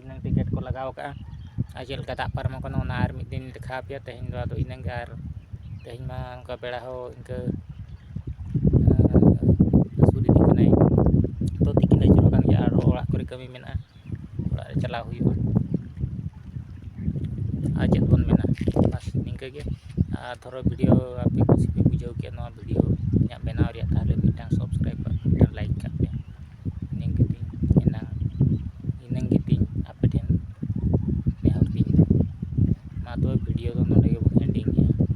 ᱤᱱᱟᱹᱝ ticket ᱠᱚ ᱞᱟᱜᱟᱣ ᱠᱟᱜᱼᱟ ᱟᱨ ᱪᱮᱫ ᱞᱮᱠᱟ ᱫᱟᱜ ᱯᱟᱨᱚᱢᱚᱜ ᱠᱟᱱᱟ ᱚᱱᱟ ᱟᱨ ᱢᱤᱫ ᱫᱤᱱ ᱫᱮᱠᱷᱟᱣ ᱯᱮᱭᱟ ᱛᱮᱦᱮᱧ ᱫᱚ ᱟᱫᱚ ᱤᱱᱟᱹᱝ ᱜᱮ ᱟᱨ ᱛᱮᱦᱮᱧ ᱢᱟ ᱚᱱᱠᱟ ᱵᱮᱲᱟ ᱦᱚᱸ ᱤᱱᱠᱟᱹ ᱦᱟᱹᱥᱩᱨ ᱤᱫᱤᱜ ᱠᱟᱱᱟᱭ ᱛᱚ ᱛᱤᱠᱤᱱ ᱟᱹᱪᱩᱨᱚᱜ ᱠᱟᱱ ᱜᱮᱭᱟ ᱟᱨᱦᱚᱸ ᱚᱲᱟᱜ ᱠᱚᱨᱮ ᱠᱟᱹᱢᱤ ᱢᱮᱱᱟᱜᱼᱟ ᱚᱲᱟᱜ ᱨᱮ ᱪᱟᱞᱟᱣ ᱦᱩᱭᱩᱜᱼᱟ ᱟᱨ ᱪᱮᱫ ᱵᱚᱱ ᱢᱮᱱᱟ ᱵᱟᱥ ᱱᱤᱝᱠᱟᱹ ᱜᱮ ᱟᱨ ᱫᱷᱚᱨᱚ ᱵᱷᱤᱰᱤᱭᱳ ᱟᱯᱮ ᱠᱩᱥᱤ ᱯᱮ ᱵᱩᱡᱷᱟᱹᱣ ᱠᱮᱜᱼᱟ ᱱᱚᱣᱟ ᱵᱷᱤᱰᱤᱭᱳ ᱤᱧᱟᱹᱜ ᱵᱮᱱᱟᱣ ᱨᱮᱭᱟᱜ ᱛᱟᱦᱚᱞᱮ ᱢᱤᱫᱴᱟᱱ ᱥᱟᱵᱥᱠᱨᱟᱭᱤᱵᱽ ᱠᱟᱜ ᱯᱮ ᱢᱤᱫᱴᱟᱱ ᱞᱟᱭᱤᱠ ᱠᱟᱜ ᱯᱮ ᱤᱱᱟᱹ ᱜᱮᱛᱤᱧ ᱮᱱᱟᱝ ᱤᱱᱟᱹ ᱜᱮᱛᱤᱧ ᱟᱯᱮ ᱴᱷᱮᱱ ᱱᱮᱦᱚᱨ ᱛᱤᱧ ᱫᱚ ᱢᱟ ᱛᱚᱵᱮ ᱵᱷᱤᱰᱤᱭᱳ ᱫᱚ ᱱᱚᱰᱮ ᱜᱮᱵᱚᱱ ᱮᱱᱰᱤᱝ ᱮᱫᱟ